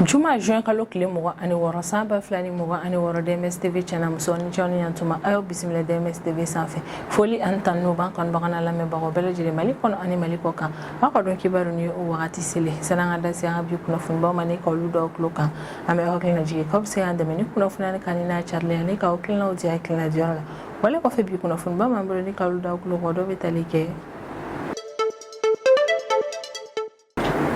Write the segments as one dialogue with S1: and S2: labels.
S1: juma juin kalo tile mugan ani wɔɔrɔ san ba fila ni mugan ani wɔɔrɔ dms tv cɛ n'a muso aw ni ce aw ni yan tuma a y'aw bisimila dms tv sanfɛ foli ani tanu b'an kanubagaw n'an lamɛnbagaw bɛɛ lajɛlen mali kɔnɔ ani mali kɔ kan aw ka donkibaru ni o wagati selen san'an ka da se an ka bi kunnafonibaw ma ni ka olu da aw tulo kan an bɛ aw hakili lajigin k'aw bɛ se k'an dɛmɛ ni kunnafoni nin kanuni n'a carili ani k'aw hakilinaw di hakilina diyɔrɔ la wala kɔfɛ bi kunnafoniba min b'an bolo ni k'olu da aw tulo kan dɔ bɛ tali kɛ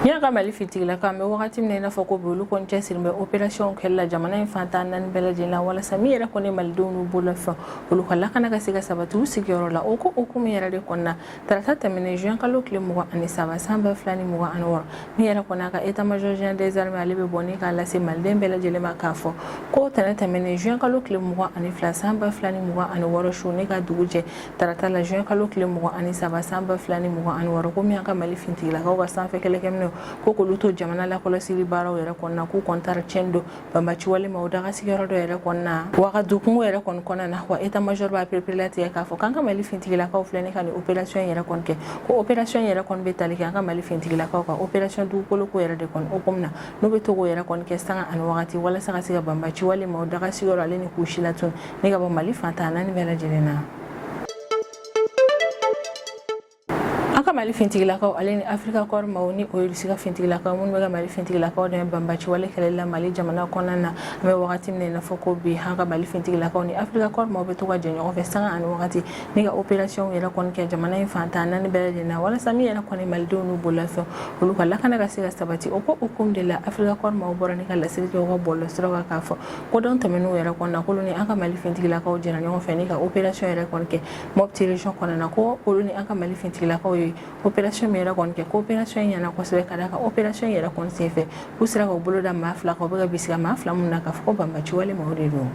S1: min y'an ka Mali fintigilakaw an bɛ wagati min na i n'a fɔ ko bi olu kɔni cɛsirilen bɛ operasiyɔnw kɛli la jamana in fan tan naani bɛɛ lajɛlen la walasa min yɛrɛ kɔni ye malidenw n'u bololafɛnw olu ka lakana ka se ka sabati u sigiyɔrɔ la o ko hukumu yɛrɛ de kɔnɔna tarata tɛmɛnen juin kalo tile mugan ani saba san ba fila ni mugan ani wɔɔrɔ min yɛrɛ kɔni an ka état major général des armées ale bɛ bɔ ni k'a lase maliden bɛɛ lajɛlen ma k'a fɔ ko tɛnɛn tɛmɛnen juin kalo tile mugan ani fila san ba fila ni mugan ani wɔɔrɔ su ni ka dugu jɛ tarata la juin kalo tile mugan ani saba san ba fila ni mugan ani wɔɔrɔ ko min y'an ka mali fintigilakaw ka sanfɛ kɛlɛkɛminɛnw ko k'olu to jamana lakɔlɔsili baaraw yɛrɛ kɔnɔna k'u kɔni taara tiɲɛni don banbaci wale maw daga sigiyɔrɔ dɔ yɛrɛ kɔnɔna na wagadu kungo yɛrɛ kɔni kɔnɔna na wa eta major b'a perepere tigɛ k'a fɔ k'an ka mali fintigilakaw filɛ ni ka nin opération yɛrɛ kɔni kɛ ko opération yɛrɛ kɔni bɛ tali kɛ an ka mali fintigilakaw ka opération dugukoloko yɛrɛ de kɔni hukumu na n'u bɛ to k'o yɛrɛ kɔni kɛ sanga ani wagati walasa ka se ka banbaci wale maw daga sigiyɔrɔ ale ni k'u silatunun ni ka bɔ mali fan tan naani bɛɛ lajɛlen na an ka mali fintigilakaw ale ni afirika kɔri maw ni o ye irisi ka fintigilakaw minnu bɛ ka mali fintigilakaw dɛmɛ banbaciwale kɛlɛli la mali jamana kɔnɔna na an bɛ wagati min na i n'a fɔ ko bi an ka mali fintigilakaw ni afirika kɔri maw bɛ to ka jɛ ɲɔgɔn fɛ sanga ani wagati ni ka operasiyɔnw yɛrɛ kɔni kɛ jamana in fan tan naani bɛɛ lajɛlen na walasa min yɛrɛ kɔni malidenw n'u bololafɛn olu ka lakana ka se ka sabati o ko hukumu de la afirika kɔri maw bɔra ni ka laseli kɛ u ka bɔlɔlɔsiraw kan k'a fɔ ko don tɛmɛnenw yɛrɛ kɔnɔna k'olu ni an ka mali fintigilakaw jɛra ɲɔgɔn fɛ ni ka operasiyɔn yɛrɛ kɔni kɛ Mopti region kɔnɔna ko olu ni an ka mali fintigilakaw ye operasiyɔn min yɛrɛ kɔni kɛ ko operasiyɔn in ɲɛna kosɛbɛ ka da operasiyɔn in yɛrɛ kɔni senfɛ u sera k'u bolo da maa fila kan u bɛ ka bisigi maa fila min na k'a fɔ banbaci wale mɔgɔ de don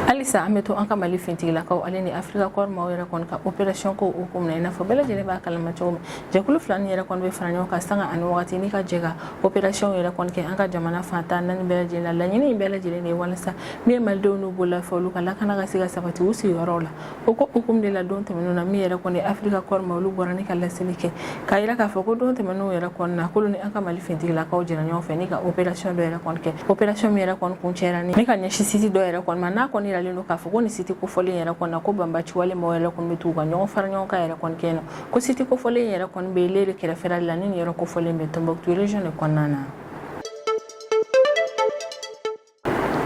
S1: halisa an bɛ to an ka mali fintigilakaw ale ni afirika kɔri maw yɛrɛ kɔni ka operasiyɔn ko hukumu na i n'a fɔ bɛɛ lajɛlen b'a kala ma cogo min jɛkulu fila nin yɛrɛ kɔni bɛ fara ɲɔgɔn kan sanga ani wagati ni ka jɛ ka operasiyɔn yɛrɛ kɔni kɛ an ka jamana fan tan naani bɛɛ lajɛlen laɲini in bɛɛ lajɛlen de ye walasa min ye malidenw n'u bololafɛn olu ka lakana ka se ka sabati u sigiyɔrɔw la o ko hukumu de la don tɛmɛnenw na min yɛrɛ kɔni afirika kɔri maw olu bɔra ni ka laseli kɛ k'a yira k'a fɔ ko don tɛmɛnenw yɛrɛ kɔni na k'olu ni an ka mali fintigilakaw jɛra ɲɔgɔn fɛ ni ka operasiyɔn dɔ yɛrɛ kɔni kɛ operasiyɔn min yɛrɛ kɔni kuncɛra ni ka ɲɛsin siti dɔ yɛrɛ kɔni ma n'a kɔni yiralen don k'a fɔ ko nin siti kofɔlen yɛrɛ kɔni na ko banbaci wale mɔgɔ yɛrɛ kɔni bɛ t'u ka ɲɔgɔn fara ɲɔgɔn kan yɛrɛ kɔni kɛ na ko siti kofɔlen yɛrɛ kɔni bɛ lere kɛrɛfɛla la ni nin yɔrɔ kofɔlen bɛ tɔnbukutu region de kɔnɔna na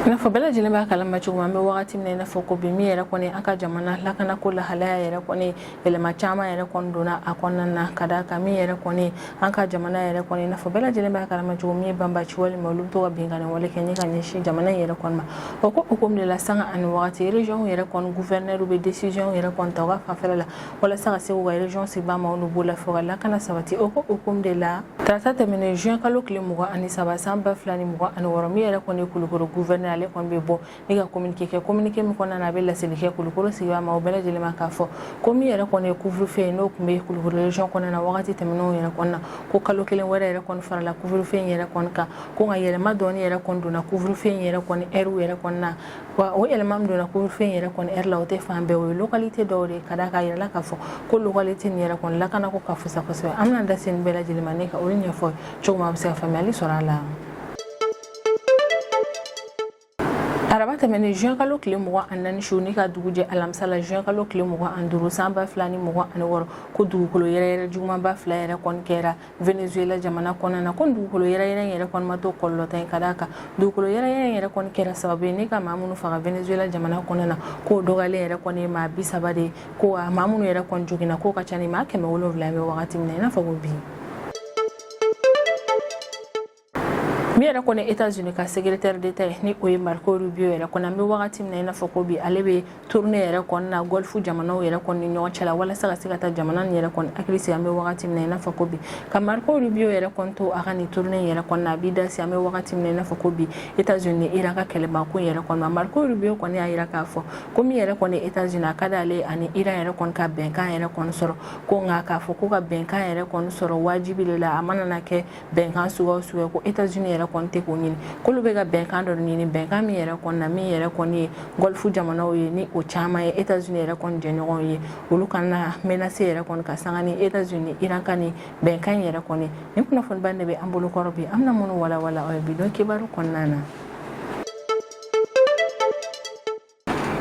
S1: i n'a fɔ bɛɛ lajɛlen b'a kalama cogo an bɛ wagati min na i n'a fɔ ko bi min yɛrɛ kɔni an ka jamana lakanako lahalaya yɛrɛ kɔni yɛlɛma caman yɛrɛ kɔni donna a kɔnɔna na ka d'a kan min yɛrɛ kɔni an ka jamana yɛrɛ kɔni i n'a fɔ bɛɛ lajɛlen b'a kalama cogo min ye banbaanci walima olu bɛ to ka binkanni wale kɛ ni ka ɲɛsin jamana in yɛrɛ kɔni ma o ko hukumu de la sanga ani wagati régionw yɛrɛ kɔni gouverneur bɛ décision yɛrɛ kɔni ta u ka fanfɛla la walasa ka se k'u ka région sigibaa maaw n'u bololafɛnw ka lakana sabati o ko hukumu de la tarata tɛmɛnen juin kalo tile mugan ani saba san ba fila ni mugan ani wɔɔrɔ min yɛrɛ kɔni ye kulukɔrɔ gouverneur ale kɔni bɛ bɔ ni ka kominike kɛ kominike min kɔnɔna na a bɛ laseli kɛ kulukɔrɔ sigibaa maaw bɛɛ lajɛlen ma k'a fɔ ko min yɛrɛ kɔni ye couvre-feu ye n'o tun bɛ kulukɔrɔ région kɔnɔna na wagati tɛmɛnenw yɛrɛ kɔnɔna ko kalo kelen wɛrɛ yɛrɛ kɔni farala couvre-feu in yɛrɛ kɔni kan ko nka yɛlɛma dɔɔni yɛrɛ kɔni donna couvre-feu in yɛrɛ kɔni ɛriw yɛrɛ kɔnɔna wa o yɛlɛma min donna couvre-feu yɛrɛ kɔni ɛri la o tɛ fan bɛɛ o ye localité dɔw de ye ka d'a kan a yɛrɛ la k'a fɔ ko localité nin yɛrɛ kɔni lakana ko ka fusa kosɛbɛ an bɛna da se nin bɛɛ lajɛlen ma ni ka olu ɲɛfɔ cogo min aw bɛ se ka faamuyali sɔrɔ a la araba tɛmɛnen juin kalo tile mugan ani naani su ni ka dugu jɛ alamisa la juin kalo tile mugan ani duuru san ba fila ni mugan ani wɔɔrɔ ko dugukolo yɛrɛyɛrɛ jugumanba fila yɛrɛ kɔni kɛra venezuela jamana kɔnɔna na ko dugukolo yɛrɛyɛrɛ in yɛrɛ kɔni ma to kɔlɔlɔntan ye ka d'a kan dugukolo yɛrɛyɛrɛ in yɛrɛ kɔni kɛra sababu ye ni ka maa minnu faga venezuela jamana kɔnɔna na k'o dɔgɔyalen yɛrɛ kɔni ye maa bi saba de ye ko maa minnu yɛrɛ kɔni joginna k'o ka ca ni maa kɛmɛ wolonwula an bɛ wagati min na i n'a fɔ ko bi min yɛrɛ kɔni etats unis ka secrétaire d'état ye ni o ye marco rubio yɛrɛ kɔni an bɛ wagati min na i n'a fɔ ko bi ale bɛ tournée yɛrɛ kɔni na golf jamanaw yɛrɛ kɔni ni ɲɔgɔn cɛ la walasa ka se ka taa jamana nin yɛrɛ kɔni hakili sigi an bɛ wagati min na i n'a fɔ ko bi ka marco rubio yɛrɛ kɔni to a ka nin tournée yɛrɛ kɔni na a b'i da se an bɛ wagati min na i n'a fɔ ko bi etats unis ni iran ka kɛlɛba ko in yɛrɛ kɔni ma marco rubio kɔni y'a jira k'a fɔ ko min yɛrɛ kɔni etats unis a ka d'ale ani iran yɛrɛ kɔni ka bɛnkan yɛrɛ kɔni sɔrɔ ko nka k'a fɔ ko ka bɛnkan yɛrɛ kɔni sɔrɔ wajibi de la a mana na kɛ bɛnkan suguya o suguya ko Etats-Unis yɛrɛ kɔni tɛ k'o ɲini k'olu bɛ ka bɛnkan dɔ ɲini bɛnkan min yɛrɛ kɔni na min yɛrɛ kɔni ye gɔlifu jamanaw ye ni o caman ye Etats-Unis yɛrɛ kɔni jɛɲɔgɔnw ye olu kana na menacé yɛrɛ kɔni ka sanga ni Etats-Unis Iran ka nin bɛnkan in yɛrɛ kɔni nin kunnafoniba in de bɛ an bolo kɔrɔ bi an bɛna minnu walawala aw ye bi don kibaru kɔnɔna na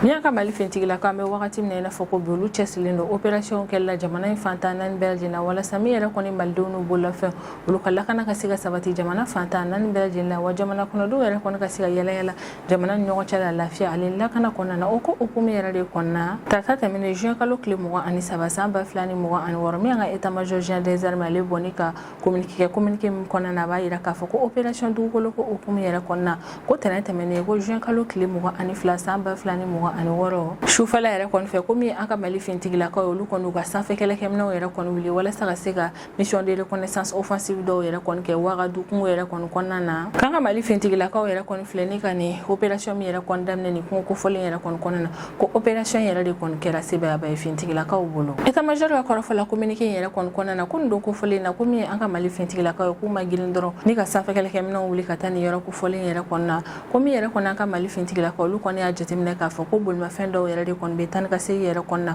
S1: Min y'an ka mali finitigilakaw an bɛ wagati min na i n'a fɔ ko bi olu cɛsirilen don opérationw kɛli la jamana in fan tan ni naani bɛɛ lajɛlen walasa min yɛrɛ kɔni malidenw n'u bololafɛnw olu ka lakana ka se ka sabati jamana fan tan ni naani bɛɛ lajɛlen la wa jamana kɔnɔdenw yɛrɛ kɔni ka se ka yaalayaala jamana ɲɔgɔn cɛ la lafiya ani lakana kɔnɔna na o ko hukumu in yɛrɛ de kɔnɔna tarata tɛmɛnen juin kalo tile mugan ani saba san ba fila ni mugan ani wɔɔrɔ min an ka état-major général des armées ale bɔra ni ka kominikɛ kominike min kɔnɔna na a b'a yira k'a fɔ ko operasiyɔn dugukoloko hukumu yɛrɛ kɔnɔna ko tɛnɛ tɛmɛnen ko juin kalo tile mugan ani fila san ba fila ni mugan ani wɔɔrɔ sufɛla yɛrɛ kɔni fɛ komi an ka mali fintigilakaw olu kɔni u ka sanfɛ kɛlɛkɛminɛw yɛrɛ kɔni wuli walasa ka se ka mission de reconnaissance offensive dɔw yɛrɛ kɔni kɛ wagadu kungo yɛrɛ kɔni kɔnɔna na k'an ka mali fintigilakaw yɛrɛ kɔni filɛ ni ka nin operasiyɔn min yɛrɛ kɔni daminɛ nin kungo kofɔlen yɛrɛ kɔni kɔnɔna na ko operasiyɔn yɛrɛ de kɔni kɛra sebaayaba ye fintigilakaw bolo état major ka kɔrɔfɔ la kominike in yɛrɛ kɔni kɔnɔna na ko nin don kofɔlen na ko min ye an ka mali fintigilakaw ye k'u ma girin dɔrɔn ni ka sanfɛkɛlɛkɛminɛw wuli ka taa nin yɔrɔ kofɔlen yɛrɛ kɔnɔ na ko min yɛrɛ kɔni an ka mali fintigilakaw olu kɔni y'a jateminɛ k'a fɔ ko bolimafɛn dɔw yɛrɛ de kɔni bɛ taa ni ka segin yɛrɛ kɔnɔ na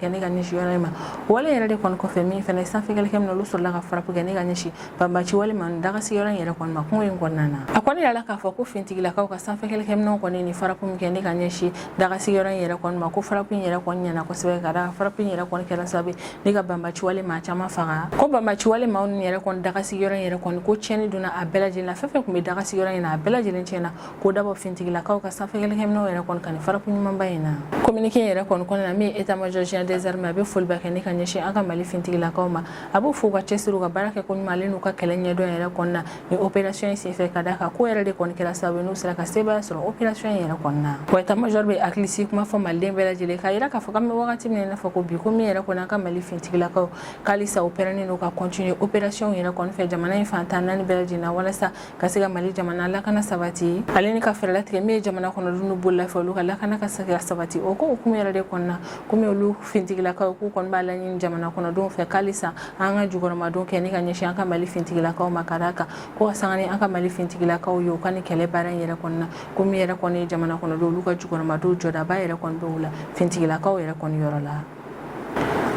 S1: kɛ ni ka ɲɛsin yɔrɔ ma wale yɛrɛ de kɔni kɔfɛ min fana sanfɛkɛlɛkɛminɛw olu sɔrɔla ka farapu kɛ ni ka ɲɛsin banbaci wale maa dagasi yɔrɔ in yɛrɛ kɔni ma kungo in kɔnɔna na a kɔni yirala k'a fɔ ko fintigilakaw ka sanfɛkɛlɛkɛminɛnw kɔni nin farapu min kɛ ni ka ɲɛsin dagasi yɔrɔ in yɛrɛ kɔni ma ko farapu in yɛrɛ kɔni ɲɛna kosɛbɛ ka da farapu in yɛrɛ kɔni kɛra sababu ye ni ka banbaci wale maa caman faga ko banbaci wale maa ninnu yɛrɛ kɔni dagasi yɔrɔ in yɛrɛ kɔni ko tiɲɛni donna a bɛɛ lajɛlen na fɛn fɛn tun bɛ dagasi yɔrɔ in na a bɛɛ lajɛlen tiɲɛna ko dabɔ fintigilakaw ka sanfɛkɛlɛkɛminɛw yɛrɛ kɔni ka nin farapu ɲumanba in na kominike yɛrɛ kɔni kɔnɔna na min ye état major général des armées a bɛ foliba kɛ ni ka ɲɛsin an ka mali fintigilakaw ma a b'u fo u ka cɛsiri u ka baara kɛ ko ɲuman ale n'u ka kɛlɛ ɲɛdɔn yɛrɛ kɔni na nin opération in senfɛ ka d'a kan k'o yɛrɛ de kɔni kɛra sababu ye n'u sera ka sebaaya sɔrɔ opération in yɛrɛ kɔnɔna wa état major bɛ hakilisigi kuma fɔ maliden bɛɛ lajɛlen k'a yira k'a fɔ k'an bɛ wagati min na fɔ ko bi ko min yɛrɛ kɔni an ka mali fintigilakaw k'alisa u pɛrɛnnen don ka continuer opération yɛrɛ kɔni fɛ jamana in fan tan naani bɛɛ lajɛlen na walasa ka se ka mali jamana lakana sabati ale ni ka fɛɛrɛ latigɛ min ye jamana kɔnɔdenw n'u bololafɛnw olu ka lakana ka se ka sabati o ko hukumu yɛrɛ de kɔnɔna komi olu fintigilakaw k'u kɔni b'a laɲini jamana kɔnɔdenw fɛ k'alisa an ka jukɔrɔmadon kɛ ni ka ɲɛsin an ka mali fintigilakaw ma ka d'a kan ko ka sanga ni an ka mali fintigilakaw ye u ka nin kɛlɛ baara in yɛrɛ kɔnɔna ko min yɛrɛ kɔni ye jamana kɔnɔdenw olu ka jukɔrɔmadon jɔdaba yɛrɛ kɔni bɛ o la fintigilakaw yɛrɛ kɔni yɔrɔ la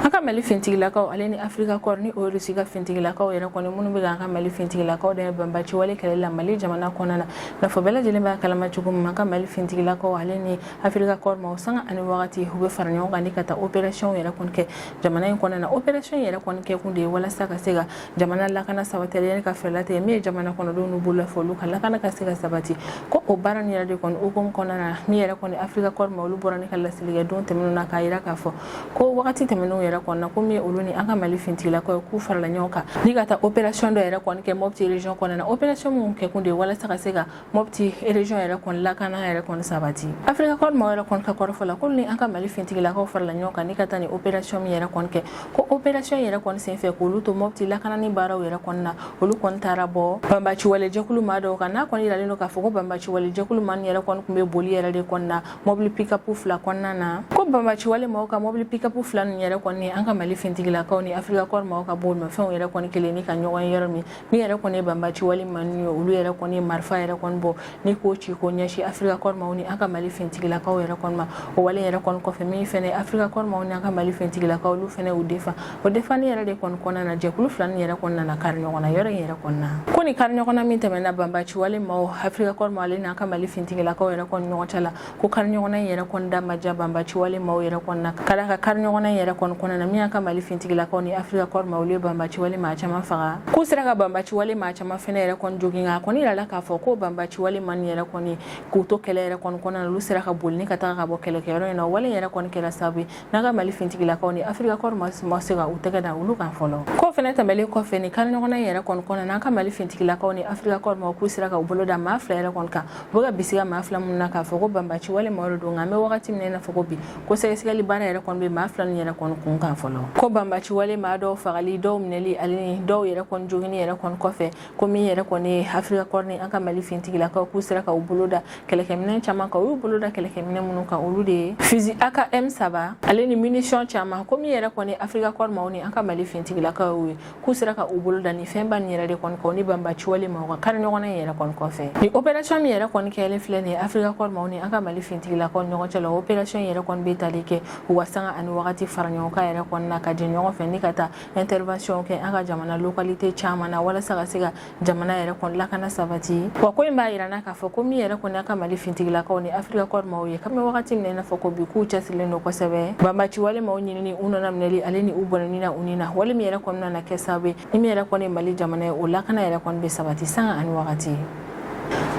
S1: an ka mali fintigilakaw ale ni afirika kɔri ni o ye rusi ka fintigilakaw yɛrɛ kɔni minnu bɛ k'an ka mali fintigilakaw dɛmɛ banbaci wale kɛlɛ la mali jamana kɔnɔna na n'a fɔ bɛɛ lajɛlen b'a kalama cogo min an ka mali fintigilakaw ale ni afirika kɔri maaw sanga ani wagati u bɛ fara ɲɔgɔn kan ni ka taa operasiyɔnw yɛrɛ kɔni kɛ jamana in kɔnɔna na operasiyɔn yɛrɛ kɔni kɛkun de ye walasa ka se ka jamana lakana sabati ale ni ka fɛɛrɛ latigɛ min ye jamana kɔnɔdenw n'u bololafɛnw olu ka lakana ka se ka sabati ko o baara nin yɛrɛ de kɔni hukumu kɔnɔna na min yɛrɛ kɔni afirika kɔri maa olu bɔra ni ka laseli kɛ don tɛmɛnenw na k'a yira k'a fɔ ko wagati tɛmɛnenw yɛrɛ kɔnɔna ko min ye olu ni an ka mali fintigilakaw ye k'u farala ɲɔgɔn kan ni ka taa operasiyɔn dɔ yɛrɛ kɔni kɛ mɔpiti région kɔnɔna na operasiyɔn minnu kɛkun de ye walasa ka se ka mɔti ereziyɔn yɛrɛ kɔni lakana yɛrɛ kɔni sabati afirika kɔri maw yɛrɛ kɔni ka kɔrɔfɔ la ko ni an ka mali fintigilakaw farala ɲɔgɔn kan ni ka taa ni operasiyɔn min yɛrɛ kɔni kɛ ko operasiyɔn yɛrɛ kɔni senfɛ k'olu to mɔti lakanani baaraw yɛrɛ kɔni na olu kɔni taara bɔ banbaciwale jɛkulu ma dɔw kan n'a kɔni yiralen don k'a fɔ ko banbaciwale jɛkulu ma yɛrɛ kɔni tun bɛ boli yɛrɛ de kɔni na mɔbili pikapu fila kɔnɔna na ko banbaciwale maw ka mɔbili pikapu fila nin yɛrɛ kɔni an ka mali fintigilakaw ni afirika kɔri maw ka bolimafɛnw yɛrɛ kɔni kɛlen ni ka ɲɔgɔn yɔrɔ min Min yɛrɛ kɔni banbaciwale maw ye olu yɛrɛ kɔni marifa yɛrɛ kɔni bɔ ni k'o ci k'o ɲɛsin afirika kɔri maw ni an ka mali fintigilakaw yɛrɛ kɔni ma o wale yɛrɛ kɔni kɔfɛ min fana afirika kɔri maw ni an ka mali fintigilakaw olu fana u defa o defani yɛrɛ de kɔni kɔnɔna na jɛkulu fila nin yɛrɛ kɔni nana kari ɲɔgɔn na yɔrɔ in yɛrɛ kɔnɔna ko ni kariɲɔgɔnna min tɛmɛna banbaciwale maw afirika kɔri maw ale ni an ka mali fintigilakaw yɛrɛ kɔni ɲɔgɔn cɛ la ko kariɲɔgɔnna in yɛrɛ kɔni da ma diya banbaciwale maaw yɛrɛ kɔni na ka da ka kariɲɔgɔnna in yɛrɛ kɔni kɔnɔna na min y'an ka mali fintigilakaw ni afirika kɔri maw olu ye banbaciwale maa caman faga k'u sera ka banbaciwale maa caman fɛnɛ yɛrɛ kɔni jogin nka a kɔni yirala k'a fɔ ko banbaciwale maw nin yɛrɛ kɔni k'u to kɛlɛ yɛrɛ kɔni kɔnɔna na olu sera ka boli ni ka taga ka bɔ kɛlɛkɛyɔrɔ in na wale yɛrɛ kɔni kɛra sababu ye N'an ka mali fintigilakaw ni afirika kɔri maw ma se ka u tɛgɛ da olu kan fɔlɔ ko fana tɛmɛlen kɔfɛ ni kariɲɔgɔnna yɛrɛ kɔni kɔnɔna n'an ka mali fintigilakaw ni afirika kɔri maw k'u sera ka u bolo da maa fila yɛrɛ kɔni kan u bɛ ka bisigi maa fila minnu na k'a fɔ ko banbaciwale maaw don nka an bɛ wagati min na i n'a fɔ bi ko sɛgɛsɛgɛli baara yɛrɛ kɔni bɛ maa fila nin yɛrɛ kɔni kun kan fɔlɔ ko banbaciwale maa dɔw fagali dɔw minɛli ale ni dɔw yɛrɛ joginni yɛrɛ kɔni kɔfɛ ko min yɛrɛ kɔni ye afirika kɔri ni an ka mali fintigilakaw k'u sera ka u bolo da kɛlɛkɛminɛn caman kan u y'u bolo da kɛlɛkɛminɛn minnu kan olu de ye fizi akm saba ale ni minisiyɔn caman ko min yɛrɛ kɔni afirika kɔri maw ni an ka mali fintigilakaw ye k'u sera ka u bolo da ni fɛnba nin yɛrɛ de kɔni kan ni banbaciwale maw ka kariɲɔgɔnna in yɛrɛ kɔni kɔfɛ ni operasiyɔn min yɛrɛ kɔni kɛlen filɛ nin ye afirika kɔri maw ni an ka mali fintigilakaw ɲɔgɔn cɛ la operasiyɔn yɛrɛ kɔni bɛ tali kɛ u ka sanga ani wagati fara ɲɔgɔn kan yɛrɛ kɔni na ka jɛ ɲɔgɔn fɛ ni ka taa ɛntɛriwansiyɔn kɛ an ka jamana lokalite caman na walasa ka se ka jamana yɛrɛ kɔni lakana sabati wa ko in b'a jira an na k'a fɔ ko min yɛrɛ kɔni an ka mali fintigilakaw ni afirika kɔri maw ye kabini wagati min na i n'a fɔ ko bi k'u cɛsirilen don kosɛbɛ banbaciwale maw ɲinini u nana minɛli ale ni u bɔnɛni na u ni na wale min yɛrɛ kɔni nana kɛ sababu ye ni min yɛrɛ kɔni mali jamana ye o lakana yɛrɛ kɔni bɛ sabati sanga ani wagati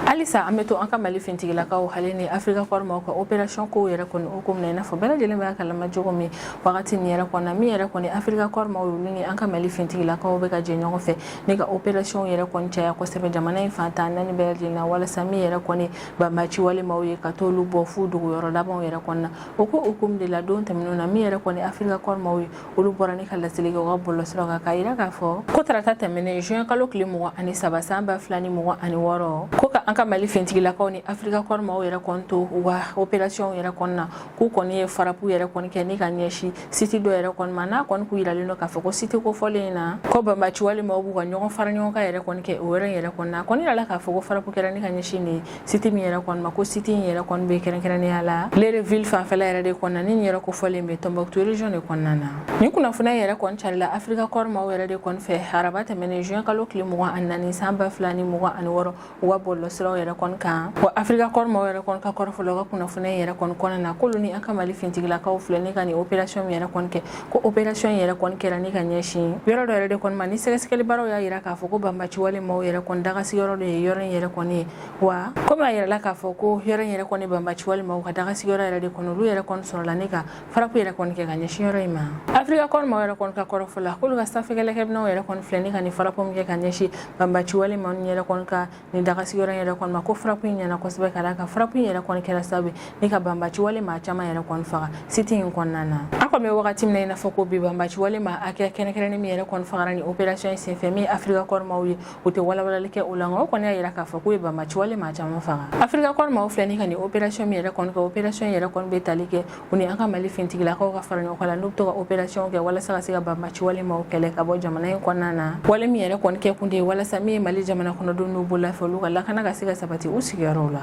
S1: halisa an bɛ to an ka mali fintigilakaw ale ni afirika kɔri maw ka operasiyɔn kow yɛrɛ kɔni hukumu na i n'a fɔ bɛɛ lajɛlen b'a kalama cogo min wagati nin yɛrɛ kɔnɔna min yɛrɛ kɔni afirika kɔri maw olu ni an ka mali fintigilakaw bɛ ka jɛ ɲɔgɔn fɛ ni ka operasiyɔnw yɛrɛ kɔni caya kosɛbɛ jamana in fan tan naani bɛɛ lajɛlen na walasa min yɛrɛ kɔni banbaciwale maw ye ka t'olu bɔ f'u dogoyɔrɔ labanw yɛrɛ kɔnɔna o ko hukumu de la don tɛmɛnenw na min yɛrɛ kɔni afirika kɔri maw ye olu bɔra ni ka laseli kɛ u ka bɔlɔsiraw kan k'a yira k'a fɔ ko tarata tɛmɛnen juin kalo tile mugan ani saba san ba fila ni mugan ani wɔɔrɔ ko ka an ka mali fintigilakaw ni afirika kɔri maw yɛrɛ kɔni to u ka operasiyɔnw yɛrɛ kɔnɔna k'u kɔni ye farapu yɛrɛ kɔni kɛ ni ka ɲɛsin siti dɔ yɛrɛ kɔni ma n'a kɔni k'u yiralen don k'a fɔ ko siti kofɔlen in na ko banbaci wale maaw b'u ka ɲɔgɔn fara ɲɔgɔn kan yɛrɛ kɔni kɛ o yɔrɔ in yɛrɛ kɔni na a kɔni yirala k'a fɔ ko farapu kɛra ni ka ɲɛsin de siti min yɛrɛ kɔni ma ko siti in yɛrɛ kɔni bɛ kɛrɛnkɛrɛnnenya la léré ville fanfɛla yɛrɛ de kɔni na ni léré kofɔlen bɛ tɔnbɔkutu région de kɔnɔna na nin kunnafoniya yɛrɛ kɔni carila afirika kɔri maaw yɛrɛ de kɔni fɛ araba tɛmɛnen juin kalo tile mugan ani naani san ba fila ni mugan ani wɔɔrɔ u ka bɔlɔsiraw yɛrɛ kɔni kan wa afirika kɔri maaw yɛrɛ kɔni ka kɔrɔfɔ l'u ka kunnafoniya yɛrɛ kɔni kɔnɔna na k'olu ni an ka mali fintigilakaw filɛ ni ka nin operasiyɔn min yɛrɛ kɔni kɛ ko operasiyɔn yɛrɛ kɔni kɛra ni ka ɲɛsin yɔrɔ dɔ yɛrɛ de kɔni ma ni sɛgɛsɛgɛlibaaraw y'a yira k'a fɔ ko banbaci wale maaw yɛrɛ kɔni dagasigiyɔrɔ de ye yɔrɔ in yɛrɛ kɔni ye wa komi a yirala k'a fɔ ko yɔrɔ in yɛrɛ kɔni banbaci wale maaw ka dagasigiyɔrɔ yɛrɛ de kɔni olu yɛrɛ kɔni sɔrɔla ni ka farapu yɛrɛ kɔni kɛ ka ɲɛsin yɔrɔ in ma afirika kɔri maaw yɛrɛ kɔni ka kɔrɔfɔ la k'olu ka sanfɛkɛlɛkɛminɛnw yɛrɛ kɔni filɛ ni ka nin farapu min kɛ ka ɲɛsin banbaci wale maa ninnu yɛrɛ kɔni ka nin dagasigiyɔrɔ in yɛrɛ kɔni ma ko farapu in ɲɛna kosɛbɛ ka d'a kan farapu in yɛrɛ kɔni kɛra sababu ni ka banbaci wale maa caman yɛrɛ kɔni faga site in kɔnɔna na an kɔni bɛ wagati min na i n'a fɔ ko bi banbaci wale maa hakɛya kɛrɛnkɛrɛnnen min yɛrɛ kɔni fagara ni operasiyɔn in senfɛ min ye afirika kɔri maaw ye u tɛ walawalali kɛ o la nka o kɔni y'a jira k'a fɔ k'u ye banbaci wale maa caman faga afirika kɔri maaw filɛ ni ka nin operasiyɔn min yɛrɛ kɔni kɛ operasiyɔn yɛrɛ kɔni bɛ tali kɛ u ni an ka mali fintigilakaw ka fara ɲɔgɔn kan la n'u bɛ to ka operasiyɔn kɛ walasa ka se ka banbaci wale maaw kɛlɛ ka bɔ jamana in kɔnɔna na wale min yɛrɛ kɔni kɛ kun de ye walasa min ye mali jamana kɔnɔdenw n'u bololafɛnw olu ka lakana ka se ka sabati u sigiyɔrɔw la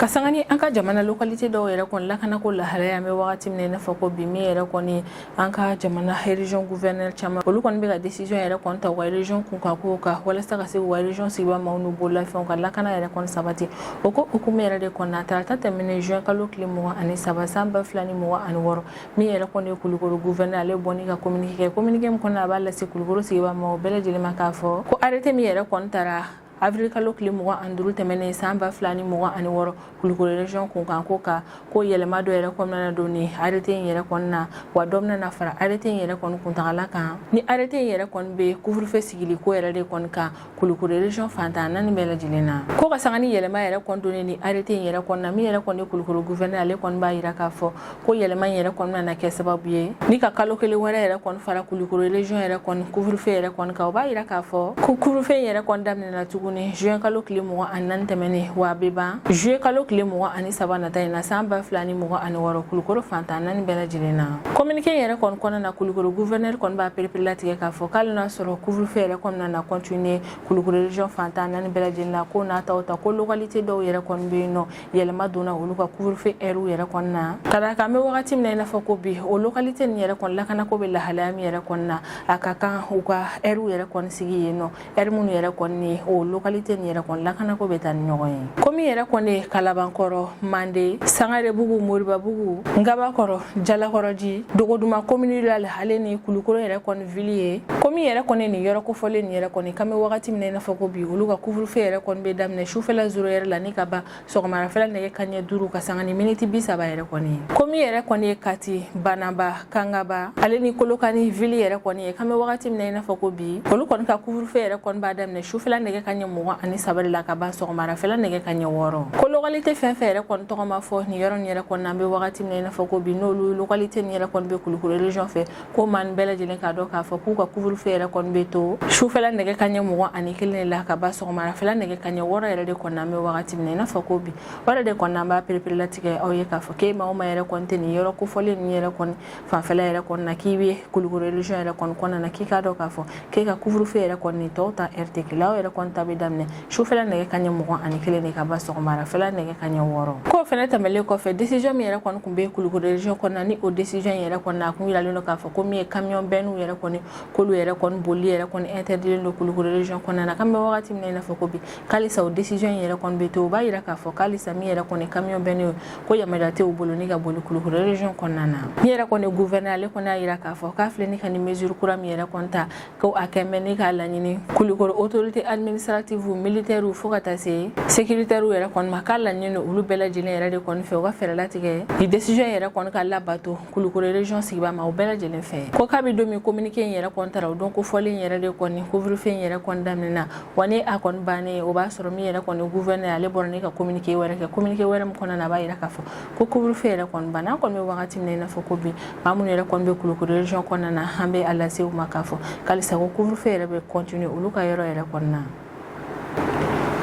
S1: ka sanga ni an ka jamana localité dɔw yɛrɛ kɔni lakanako lahalaya an bɛ wagati min na i n'a fɔ ko bi min yɛrɛ kɔni an ka jamana région gouverneur caman olu kɔni bɛ ka décision yɛrɛ kɔni ta u ka région kunkanko kan walasa ka se k'u ka région sigibaa maaw n'u bololafɛnw ka lakana yɛrɛ kɔni sabati o ko hukumu yɛrɛ de kɔnɔna tarata tɛmɛnen juin kalo tile mugan ani saba san ba fila ni mugan ani wɔɔrɔ min yɛrɛ kɔni ye kulukoro gouverneur ale bɔ ni ka communiqué kɛ communiqué min kɔnɔ a b'a lase kulukoro sigibaa maaw bɛɛ lajɛlen ma k'a fɔ ko arrêté min yɛrɛ kɔni tara Avril kalo tile mugan ani duuru tɛmɛnen san ba fila ni mugan ani wɔɔrɔ Kulukoro région kunkanko kan ko yɛlɛma dɔ yɛrɛ kɔni nana don nin arrêté in yɛrɛ kɔnɔna na wa dɔ bɛna na fara arrêté in yɛrɛ kɔni kuntagala kan ni arrêté in yɛrɛ kɔni bɛ couvre-feu sigili ko yɛrɛ de kɔni kan Kulukoro région fan tan naani bɛɛ lajɛlen na ko ka sanga ni yɛlɛma yɛrɛ kɔni donnen nin arrêté in yɛrɛ kɔnɔna min yɛrɛ kɔni ye Kulukoro gouverneur ale kɔni b'a jira k'a fɔ ko yɛlɛma in yɛrɛ kɔni nana kɛ sababu ye ni ka kalo kelen wɛrɛ yɛrɛ kɔni fara kulikoro région yɛrɛ kɔni couvre-feu yɛrɛ kɔni kan o b'a yira k'a fɔ ko couvre-feu in yɛrɛ kɔni daminɛna tuguni juin kalo tile mugan ani naani tɛmɛnen wa a bɛ ban juillet kalo tile mugan ani saba nata in na san ba fila ni mugan ani wɔɔrɔ kulikoro fan tan naani bɛɛ lajɛlen na communiqué in yɛrɛ kɔni kɔnɔna na kulikoro gouverneur kɔni b'a pereperelatigɛ k'a fɔ k'ali n'a sɔrɔ couvre-feu yɛrɛ kɔni nana continuer kulikoro région fan tan naani bɛɛ lajɛlen na k'o n'a ta o ta ko localité dɔw yɛrɛ kɔni bɛ yen n'o yɛlɛma donna olu ka couvre-feu ɛriw yɛrɛ kɔnɔna na ka d'a kan an bɛ wagati min na i n'a fɔ ko bi o localité nin yɛrɛ kɔni lakanako bɛ lahalaya min yɛrɛ kɔni na a ka kan u ka ɛriw yɛrɛ kɔni sigi yen nɔ ɛri minnu yɛrɛ kɔni ni o localité nin yɛrɛ kɔni lakanako bɛ taa ni ɲɔgɔn ye komi yɛrɛ kɔni ye kalabankɔrɔ mande sangarebugu moribabugu ngabakɔrɔ jalakɔrɔji dogoduma commune rurale ale ni kulukoro yɛrɛ kɔni vili ye komi yɛrɛ kɔni nin yɔrɔ kofɔlen nin yɛrɛ kɔni k'an bɛ wagati min na i n'a fɔ ko bi olu ka kuvurufe yɛrɛ kɔni bɛ daminɛ sufɛla zero ɛri la ni ka ban sɔgɔmarafɛla nɛgɛ kaɲɛ duuru ka sanga ni miniti bi saba yɛrɛ kɔni ye komi yɛrɛ kɔni ye kati banamba kangaba ale ni kolokani vili yɛrɛ kɔni ye k'an bɛ wagati min na i n'a fɔ ko bi olu kɔni ka kuvurufe yɛrɛ kɔni b'a daminɛ sufɛla nɛgɛ kaɲɛ mugan ani saba de la ka ban sɔgɔmarafɛla nɛgɛ kaɲɛ wɔɔrɔ ko lokalite fɛn fɛn yɛrɛ kɔni tɔgɔ ma fɔ nin yɔrɔ nin yɛrɛ kɔni na an bɛ wagati min na i n'a fɔ ko bi n'olu lokalite nin yɛrɛ kɔni bɛ kulukoro region fɛ ko maa bɛɛ lajɛlen k'a dɔn k'a fɔ k'u ka kuvurufe yɛrɛ kɔni bɛ to sufɛla nɛgɛ kaɲɛ mugan ani kelen de la ka ban sɔgɔmarafɛla nɛgɛ kaɲɛ wɔɔrɔ yɛrɛ de kɔni an bɛ wagati min na i n'a fɔ ko bi o yɛrɛ de kɔni an b'a pereperelatigɛ aw ye k'a fɔ k'e maa o maa yɛrɛ kɔni tɛ nin yɔrɔ kofɔlen ninnu yɛrɛ kɔni fanfɛla yɛrɛ kɔni na k'i bɛ kulukoro region yɛrɛ kɔni kɔnɔna na k'i k'a dɔn k'a fɔ k'e ka kuvurufe yɛrɛ kɔni tɔw ta ɛri tɛ kelen aw yɛrɛ kɔni ta bɛ daminɛ sufɛla nɛgɛ kaɲɛ mugan ani kelen de ka ban sɔgɔmarafɛla nɛgɛ kaɲɛ wɔɔrɔ k'o fɛnɛ tɛmɛlen kɔfɛ desizɔn min yɛrɛ kɔni kun bɛ kulukoro region kɔnɔna ni o desizɔn yɛrɛ kɔnɔna a kun yiralen don k'a fɔ ko min ye kamiyɔn bɛnniw yɛrɛ kɔni k'olu yɛrɛ kɔni boli yɛrɛ kɔni intɛrdilen don kulukoro region kɔnɔna na k'an bɛ wagati min na i n'a fɔ ko bi k'alisa o desizɔn yɛrɛ kɔni bɛ to o b'a yira k'a fɔ k'alisa min yɛrɛ kɔni kamiyɔn bɛnniw ko yamaruya tɛ u bolo ni ka boli kulukoro region kɔnɔna na min yɛrɛ kɔni guvɛrnɛ ale kɔni y'a yira k'a fɔ k'a filɛ ni ka nin mesure kura min yɛrɛ kɔni ta ko a tɛmɛ ni k'a laɲini kulukoro autorité administrative militaire fo ka taa se sécuritaire yɛrɛ kɔni ma k'a laɲini don olu bɛɛ lajɛlen yɛrɛ de kɔni fɛ u ka fɛɛrɛ latigɛ nin décision yɛrɛ kɔni ka labato kulukoro region sigibaa maaw bɛɛ lajɛlen fɛ ko kabi don min communiqué in yɛrɛ kɔni tara o don kofɔlen yɛrɛ de kɔni couvre-feu in yɛrɛ kɔni daminɛna wa ni a kɔni bannen o b'a sɔrɔ min yɛrɛ kɔni gouverneur ale bɔra ni ka communiqué wɛrɛ kɛ communiqué wɛrɛ min kɔnɔna na a b'a yira k'a fɔ ko couvre-feu yɛrɛ kɔni banna an kɔni bɛ wagati min na i n'a fɔ ko bi maa minnu yɛrɛ kɔni bɛ kulukoro region kɔnɔna na an bɛ a lase u ma k'a fɔ k'alisa ko couvre-feu yɛrɛ bɛ continuer olu ka yɔrɔ yɛrɛ kɔnɔna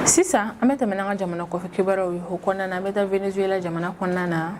S1: sisan an bɛ tɛmɛ n'an ka jamana kɔfɛ kibaruyaw ye o kɔnɔna na an bɛ taa venezuela jamana kɔnɔna na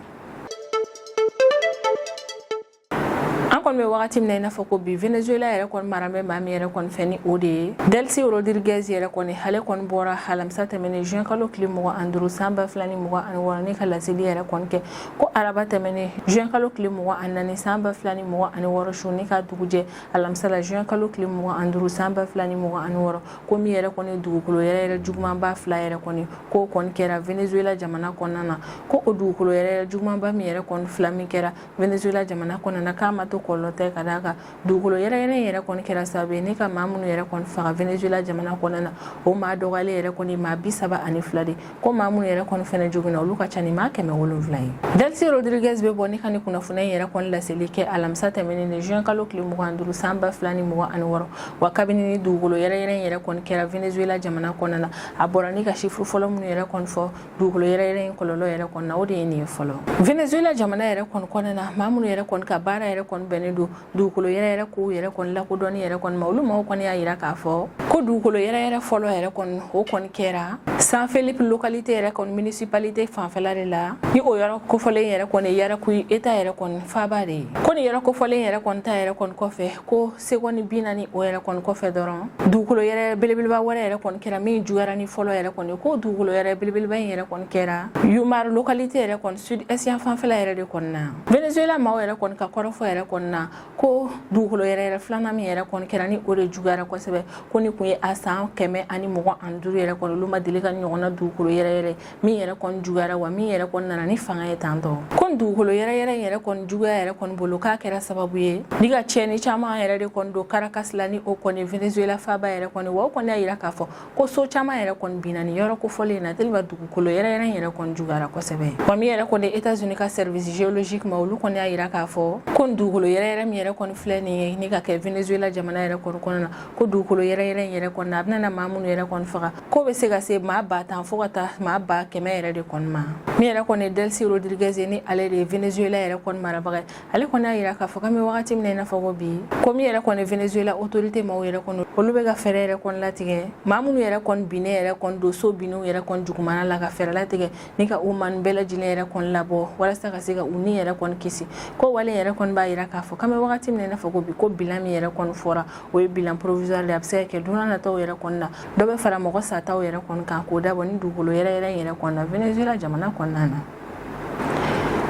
S1: an kɔni bɛ wagati min na i n'a fɔ ko bi venezuela yɛrɛ kɔni mara bɛ maa min yɛrɛ kɔni fɛ ni o de ye delcy rodriguez yɛrɛ kɔni ale kɔni bɔra alamisa tɛmɛnen juin kalo tile mugan ani duuru san ba fila ni mugan ani wɔɔrɔ ni ka laseli yɛrɛ kɔni kɛ ko araba tɛmɛnen juin kalo tile mugan ani naani san ba fila ni mugan ani wɔɔrɔ su ni ka dugujɛ alamisa la juin kalo tile mugan ani duuru san ba fila ni mugan ani wɔɔrɔ ko min yɛrɛ kɔni dugukolo yɛrɛyɛrɛ jugumanba fila yɛrɛ kɔni k'o kɔni kɛra venezuela jamana kɔnɔna na ko o dugukolo yɛrɛyɛrɛ jugumanba min yɛrɛ kɔni fila min kɛra Venezuela jamana kɔnɔna k'a ma to kɔlɔlɔ tɛ ka d'a kan dugukolo yɛrɛyɛrɛ in yɛrɛ kɔni kɛra sababu ye ni ka maa minnu yɛrɛ kɔni faga Venezuela jamana kɔnɔna na o maa dɔgɔyalen yɛrɛ kɔni maa bi saba ani fila de ko maa minnu yɛrɛ kɔni fɛnɛ joginna olu ka ca ni maa kɛmɛ wolonwula ye Delcy Rodriguez bɛ bɔ ni ka ni kunnafoniya in yɛrɛ kɔni laseli kɛ alamisa tɛmɛnen ni juin kalo tile mugan duuru san ba fila ni mugan ani wɔɔrɔ wa kabini ni dugukolo yɛrɛyɛrɛ in yɛrɛ kɔni kɛra Venezuela jamana kɔnɔna na a bɔra ni ka chiffre fɔlɔ minnu yɛrɛ kɔni fɔ dugukolo yɛrɛ yɛrɛ in kɔlɔlɔ yɛrɛ kɔni na o de ye nin fɔlɔ venezuela jamana yɛrɛ kɔni kɔnɔna na maa minnu yɛrɛ kɔni ka baara yɛrɛ kɔni bɛnnen don dugukolo yɛrɛ yɛrɛ ko yɛrɛ kɔni lakodɔnni yɛrɛ kɔni ma olu maaw kɔni y'a yira k'a fɔ ko dugukolo yɛrɛ yɛrɛ fɔlɔ yɛrɛ kɔni o kɔni kɛra san felipe localité yɛrɛ kɔni municipalité fanfɛla de la ni o yɔrɔ kofɔlen yɛrɛ kɔni yaracuy état yɛrɛ kɔni faaba de ye ko ni yɔrɔ kofɔlen yɛrɛ kɔni ta yɛrɛ kɔni kɔfɛ ko segɔni bi naani o yɛrɛ kɔni kɔfɛ dɔrɔn dugukolo yɛrɛ belebeleba wɛrɛ yɛrɛ kɔni kɛra min juguyara ni fɔlɔ yɛrɛ kɔni ko dugukolo yɛrɛ belebeleba in yɛrɛ kɔni kɛra yumare localité yɛrɛ kɔni sud est yan fanfɛla yɛrɛ de kɔni na venezuela maaw yɛrɛ kɔni ka kɔrɔfɔ yɛrɛ kɔni na ko dugukolo yɛrɛ yɛrɛ filanan min yɛrɛ kɔni kɛra ni o de juguyara kosɛbɛ ko ni kun ye a san kɛmɛ ani mugan ani duuru yɛrɛ kɔni olu ma deli ka ɲɔgɔnna dugukolo yɛrɛ yɛrɛ min yɛrɛ kɔni juguyara wa min yɛrɛ kɔni nana ni fanga ye tan dɔn ko nin dugukolo yɛrɛyɛrɛ yɛrɛ kɔni juguya yɛrɛ kɔni bolo k'a kɛra sababu ye ni ka tiɲɛni caman yɛrɛ de kɔni don caracas la ni o kɔni venezuela faaba yɛrɛ kɔni wa o kɔni y'a yira k'a fɔ ko so caman yɛrɛ kɔni binna ni yɔrɔ kofɔlen na tellement dugukolo yɛrɛyɛrɛ yɛrɛ kɔni juguyara kosɛbɛ wa min yɛrɛ kɔni états unis ka service géologique maaw olu kɔni y'a yira k'a fɔ ko nin dugukolo yɛrɛyɛrɛ min yɛrɛ kɔni filɛ nin ye ni ka kɛ venezuela jamana yɛrɛ kɔni kɔnɔna na ko dugukolo yɛrɛyɛrɛ yɛrɛ kɔni na a bɛna na maa minnu yɛrɛ kɔni faga k'o bɛ se ka se maa ba tan fo ka taa maa ba kɛmɛ yɛrɛ de kɔni ma min yɛrɛ kɔni delcy rodriguez ni ale de ye venezuela yɛrɛ kɔni marabaga ye ale kɔni y'a yira k'a fɔ k'an bɛ wagati min na i n'a fɔ ko bi ko min yɛrɛ kɔni venezuela autorité maaw yɛrɛ kɔni olu bɛ ka fɛɛrɛ yɛrɛ kɔni latigɛ maa minnu yɛrɛ kɔni binnen yɛrɛ kɔni don so binnenw yɛrɛ kɔni jugumana la ka fɛɛrɛ latigɛ ni ka o maa nin bɛɛ lajɛlen yɛrɛ kɔni labɔ walasa ka se ka u ni yɛrɛ kɔni kisi ko wale yɛrɛ kɔni b'a yira k'a fɔ k'an bɛ wagati min na i n'a fɔ ko bi ko bilan min yɛrɛ kɔni fɔra o ye bilan provisoire de a bɛ se ka kɛ don n'a nataw yɛrɛ kɔni na dɔ bɛ fara mɔgɔ sataw yɛrɛ kɔni kan k'o dabɔ ni dugukolo yɛrɛ yɛrɛ in yɛrɛ kɔni na venezuela jamana kɔnɔna na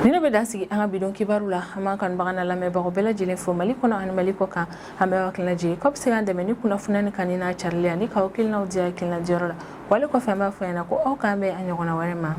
S1: nin de bɛ dan sigi an ka bi don kibaru la an b'an kanubagaw n'an lamɛnbagaw bɛɛ lajɛlen fo mali kɔnɔ ani mali kɔkan an b'aw hakili lajigin k'aw bɛ se k'an dɛmɛ ni kunnafoniya ni kanuni n'a carili ani k'aw hakilinaw di hakilina diyɔrɔ la wale kɔfɛ an b'a fɔ ɲɛna ko aw k'an bɛn a ɲɔgɔnna wɛrɛ ma